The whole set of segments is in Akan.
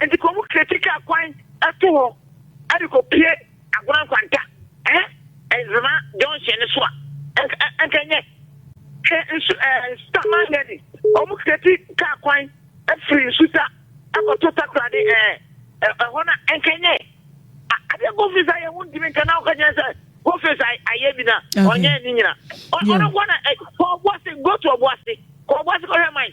Enti kɔ mu kra titwa akwan to hɔ de kɔpue Agona Nkwanta ɛɛ Zema junction no so a nka nyɛ. Hwɛ nsu ɛɛ Nsuta Mangani wɔn kra ti kaa kwan firi Nsuta kɔto Takoradi ɛɛ ɛhɔ no a nka nyɛ. Adeɛ Goldface ayɛ ho ntumi nka na ɔka nyɛ sɛ Goldface ayɛ bi na ɔnyɛ ne nyina. Ɔno nko na kɔ ɔboase go to ɔboase kɔ ɔboase kɔhwɛ man.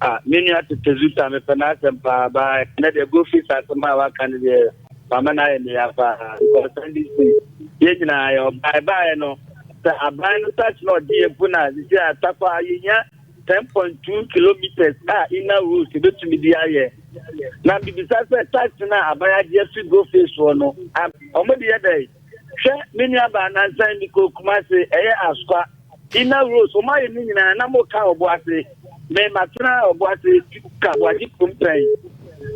Ah, me nua tete zuta mepɛ n'asɛm paa ba ɛnɛ deɛ gofis asɛm a waka no deɛ mama no ayɛ meya paa because sɛnde si yɛn nyinaa yɛ ɔbae baeɛ no sɛ aban no sase na ɔde yɛ mpo no a sisi a takwa yɛnya 10.2 kilometers a inner roads ɛbɛtumi de ayɛ na bibisa sɛ tax no a aban agye afiri gofis soɔ no ɔmode yɛ dɛn hwɛ me nua baa nansan mi kɔ kumase ɛyɛ askwa ina rose wɔn ayɛ ne nyinaa na mo ka ɔbo ase mɛ ma tena ɔbo ase ka bo agye kum pɛn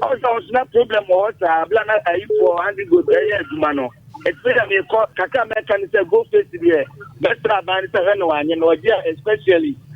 ɔsɛ ɔsɛ na problem wɔ hɔ saa abila na ayifoɔ andi go ɛyɛ adwuma no ɛtumi na mi kɔ kakra mɛ ka ne sɛ go face deɛ bɛsra aban ne sɛ hwɛ na wanyɛ na ɔgye a especially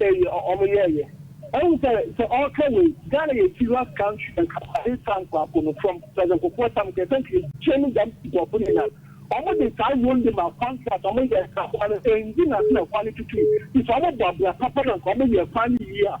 Eyi a ɔmo yɛɛyɛ. Ɛhu sɛ sɛ ɔɔka wei. Ghana yɛ serious country na Kramanyi taa nkurɔfo no from Kwesi Nkrumah tam kɛse nti yɛgye no dɛm nkurɔfo no nyinaa. Ɔmo de saa road no ma contract ɔmo yɛ saa kwan no ɛndi nase na kwan no tutui nti sɛ ɔmo bɔ abira papa na nka ɔmo yɛ kwan no yie a.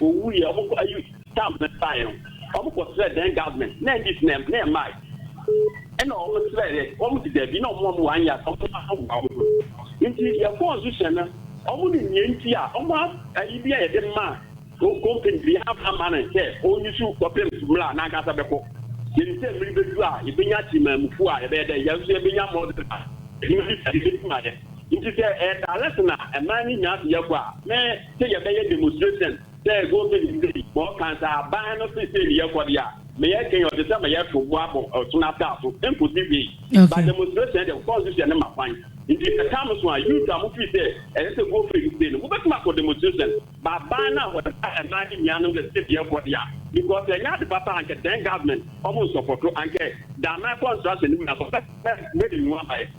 Owu yɛ ɔmo kɔ ayi stamp no baeɛ no ɔmo kɔ srɛ then government na NDC na na ɛmae ɛna ɔmo srɛ yɛ ɔmo si dabi na ɔmo ma ɔmo one year sɛ ɔmo ma boa ɔmo ho nti yɛ constitution no ɔmo nim nea nti a ɔmo ayi bi a yɛde ma company bi yɛn ama no sɛ ɔnyi so kɔpem mmra n'ankasa bɛkɔ yɛ nim sɛ mmiri bɛdu a yɛbɛnya timamufoɔ a yɛbɛyɛ dɛ yɛn nso yɛbɛnya mɔdɔ a ɛdwuma bi sɛ yɛbɛdi ma yɛ nti sɛ ɛyɛ direct na ɛmaa ne nyinaa so yɛ kɔ a me sɛ yɛbɛyɛ demonstration sɛ go sɛyi sɛyi ma ɔka sɛ aban no se sei ne yɛkɔ deɛ a meyɛ kɛn ɔte sɛ meyɛ to bo abɔ ɔsono ataa so nkɔsi wei but demonstration deɛ constitution no ma kwan nti sɛ tam so a youth a mofiri sɛ ɛsɛ sɛ go fɛ yi sei no mobɛtumi akɔ demonstration ba aban no a wɔde ɛmaa ne nua no sɛ sei ne yɛkɔ deɛ a because ɛnyɛ ade papa ankɛ then government ɔmo nsɔpɔto ankɛ daaman construction no mu na sɔpɛ mɛde nua baɛ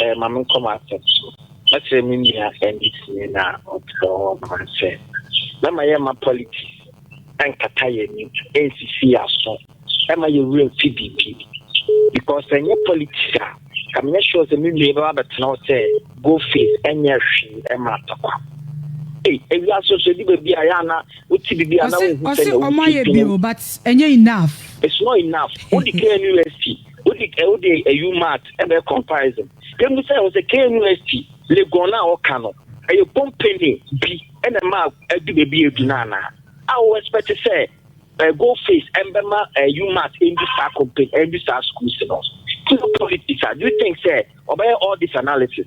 Eh, ma menkɔ m'asɛm so. Mɛsrɛ me nua Ernest Nin a ɔtena hɔ no ma sɛ mɛma yɛmma politics ɛnkata yɛn ani, ɛnsisi yɛn aso, ɛma yɛn werɛ mfi biribi. Because sɛ ɛnyɛ politics a, ka menyɛ sure sɛ me nua yi bɛba bɛtena hɔ sɛ go face ɛnyɛ hwee ɛma atakwa. Ei, ewia so so ɛdu baabi a yɛ ana wote biribi a na wohu sɛ na wosi dwene. Ɔsɛ ɔmo ayɛ bio but ɛnyɛ enough. It's not enough. Wodi kɛ university. Wode wode ayu mat ɛbɛ comparison. Yɛn mu sɛ wɔsɛ KNUST Legon a wɔka no ɛyɛ company bi ɛna ɛma ɛdu baabi ɛdu no anaa? A wɔ expect sɛ uh, go face ɛmbɛma uh, UMAT ɛndu saa company ɛndu saa schools no? It's not politics. Do you think sɛ Ɔbɛyɛ all this analysis.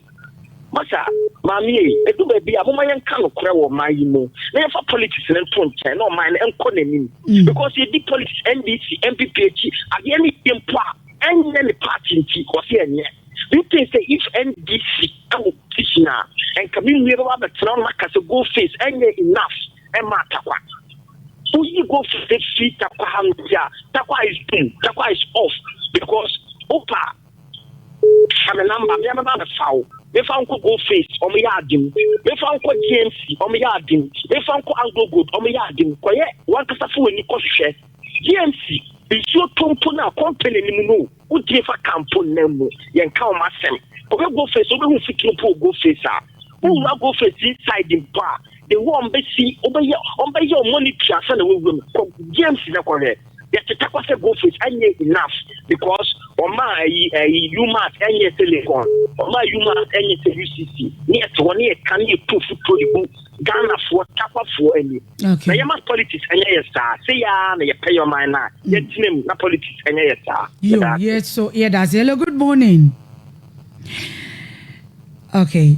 Masa, maame ei, ɛdu baabi a moma yɛnka nokorɛ wɔ ɔman yi mu na yɛmfa politics no nto nkyɛn na ɔman no nkɔ n'anim mm. because yɛdi politics NDC NPP akyi adeɛ no yɛ mpo a ɛnyɛ ne party nti wɔse ɛnyɛ do you think say if NDC ɛwɔ position a nka me nua bɛba bɛtena no maka sɛ go face ɛnyɛ enough ɛma atakwa woyi go face fi takwa ha no nti a takwa is boom takwa is off because opa Fa me number me a mɛba abɛfa wo Mefa wo nkɔ Gold Face ɔmo yɛ ade mu Mefa wo nkɔ GMC ɔmo yɛ ade mu Mefa wo nkɔ Anglo Gold ɔmo yɛ ade mu Kɔyɛ wankasa fa w'ani kɔhwehwɛ GMC nsuo tɔ mpo no a company no mu no o Wogye fa ka mpo nna mu yɛnka ɔmo asɛm Kɔhwɛ Gold Face wobɛhu mfuturo mpo wɔ Gold Face a Wowura Gold Face inside mpo a Ehu a ɔmbesi ɔbɛyɛ ɔmbɛyɛ ɔmɔ ne tua ansa na w'awura mu kɔ James na kɔhwɛ yɛ teta kɔ sɛ goldfish ɛnyɛ enough because ɔma ayi ayi umat ɛnyɛ telecon ɔma umat ɛnyɛ sɛ UCC ne yɛ te hɔ ne yɛ ka ne yɛ tu futuro de gu Ghana foɔ tapa foɔ ani na yɛ ma politics ɛnyɛ yɛ saa se yɛ a na yɛ pɛ yɛ ɔman na yɛ tena mu na politics ɛnyɛ yɛ saa yo yɛ so yɛ da se hello good morning okay.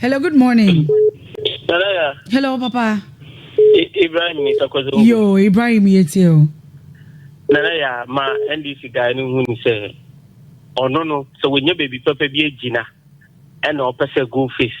Hello, good morning. Hello, Papa. Ibrahim ni Sakozo. Yo, Ibrahim Yetio. Nana ya ma NDC guy no hu ni sɛ ɔno no sɛ wɔnya baabi pɛpɛ bi agyina ɛna ɔpɛ sɛ go face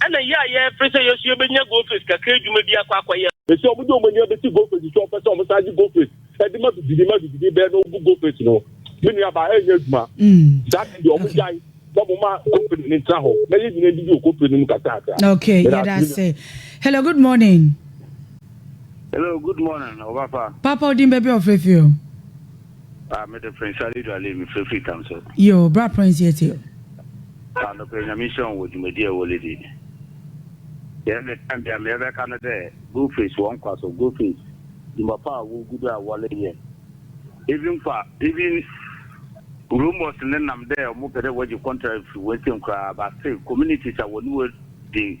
Ɛna yɛ a yɛɛfre sɛ yɛso yɛbɛnya Goldface kakra adwuma bi akɔ akɔyɛ. Mese ɔmo de ɔmo ani abɛsi Goldface so ɔpɛ sɛ ɔmo san gye Goldface ɛde ma bibini ma bibini bɛɛ na ɔbu Goldface no me nua baa ɛnyɛ adwuma saa de deɛ ɔmo gyae na ɔmo ma company no ntra hɔ na yɛ nyina ndidi wɔ company no mu kakra kakra. Ok yɛdase. Hello good morning. Hello good morning ɔbafa. Papa odin bɛbi ɔfrɛ fi o. Ah me de Prince Ali Duale me fre firi Tamso. Yoo bra Prince yɛ tie o. Ah nokorɛ Nyame nhyira wo wɔ dwumadie a wole di. Deɛ me time bia meɛ bɛka no dɛ Go face wɔn kwa so Go face dwuma pa a wo gu do a wɔle yɛ even kwa even Rumors ne nam dɛ ɔmo pɛ dɛ wɔgye contract firi wo nsam koraa but still communities a wɔne wo di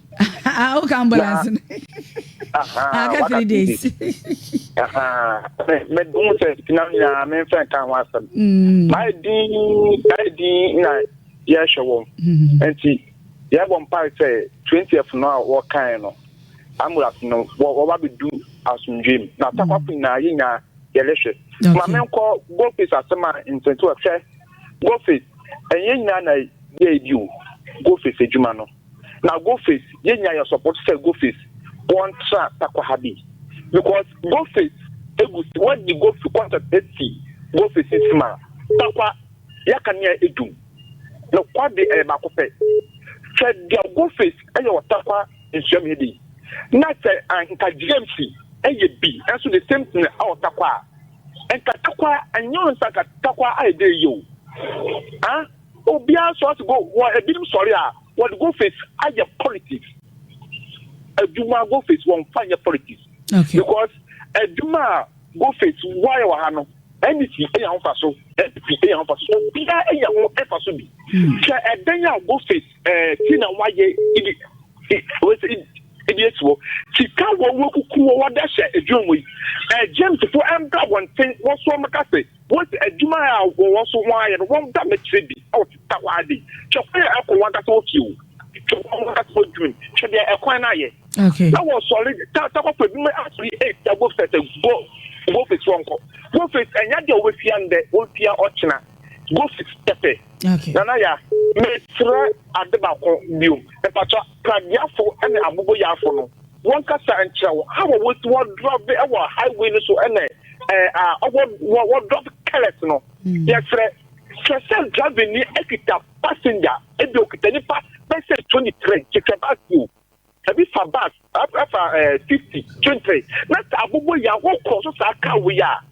Ah, woka ambulance no aka three days mehu sɛ sikinam nyinaa memfa nka ho asɛm maayɛ din ayɛ din na yɛhwɛ wɔm nti yɛbɔ mpae sɛ 20th no a wɔkae no ambulance no wɔba bɛdu asomdwe mu na takwafo nyinaa yɛ nyinaa yɛrehwɛ ma menkɔ gofis asɛm a nsɛnti wɔhwɛ gofis ɛnyɛ nyinaa na yɛɛ bi o gofis adwuma no na go face yɛ nya yɛ support sɛ go face wɔn tra takwa ha bi because go face egu si wɔn di go face concept esi go face esi ma takwa yɛ ka nea edum na kwa de ɛyɛ baako pɛ sɛ dia go face ɛyɛ wɔ takwa nsuam yɛ bi na sɛ nka james ɛyɛ bi ɛnso the same thing ɛwɔ takwa nka takwa ɛnyɛ nsa nka takwa ayɛ de yɛ o ah. Obiara so ase go wɔ ebinom sɔre a wɔde go face ayɛ politics adwuma go face wɔn fa nyɛ politics okay. because adwuma a go face wɔayɛ wɔ ha no NDC enya ho fa so NDC enya ho fa so obiara enya ho fa so bi hmm. hwɛ ɛdɛn a go face ɛɛ eh, ti na wɔayɛ ibi wɔsi ebi esi hɔ sika wɔn wɔkuku wɔn wɔde ahyɛ adwuma mu yi ɛɛ eh, gyemsifo ɛmbra wɔn nten wɔso wɔn kase. Wose adwuma a wɔwɔ so ho ara yɛ no wɔn da mɛkyerɛ bi a wɔte ta hɔ ara de twɛ kwan a ɛkɔ wɔn ankasa wɔ fie o twɛ wɔn ankasa wɔ dwuma mu twɛ deɛ ɛkwan no ayɛ na wɔ sɔre ta ta kɔfɔ bi mɛ asɔre ee ta go fɛ sɛ go go fɛ si wɔn kɔ go fɛ ɛnya deɛ wɔbɛ fia ndɛ wɔn fia ɔkyena go fɛ tɛfɛ nana ya mɛ srɛ ade baako biom ɛpatwa. Pradiafo ne aboboyafo no wɔnkasa nkyerɛ wo how a wosi wɔ drɔve wɔ highway no so ne a ɔwɔ wɔ drɔve careless no hmm. yɛfrɛ kyerɛ sɛ drɔve ni akita passenger ebi okita nipa bɛsɛ twenty three kyekɛ bus o ebi fa bus ɛfa ɛɛ fifty twenty three na sɛ aboboya wɔkɔ so saa car wei a.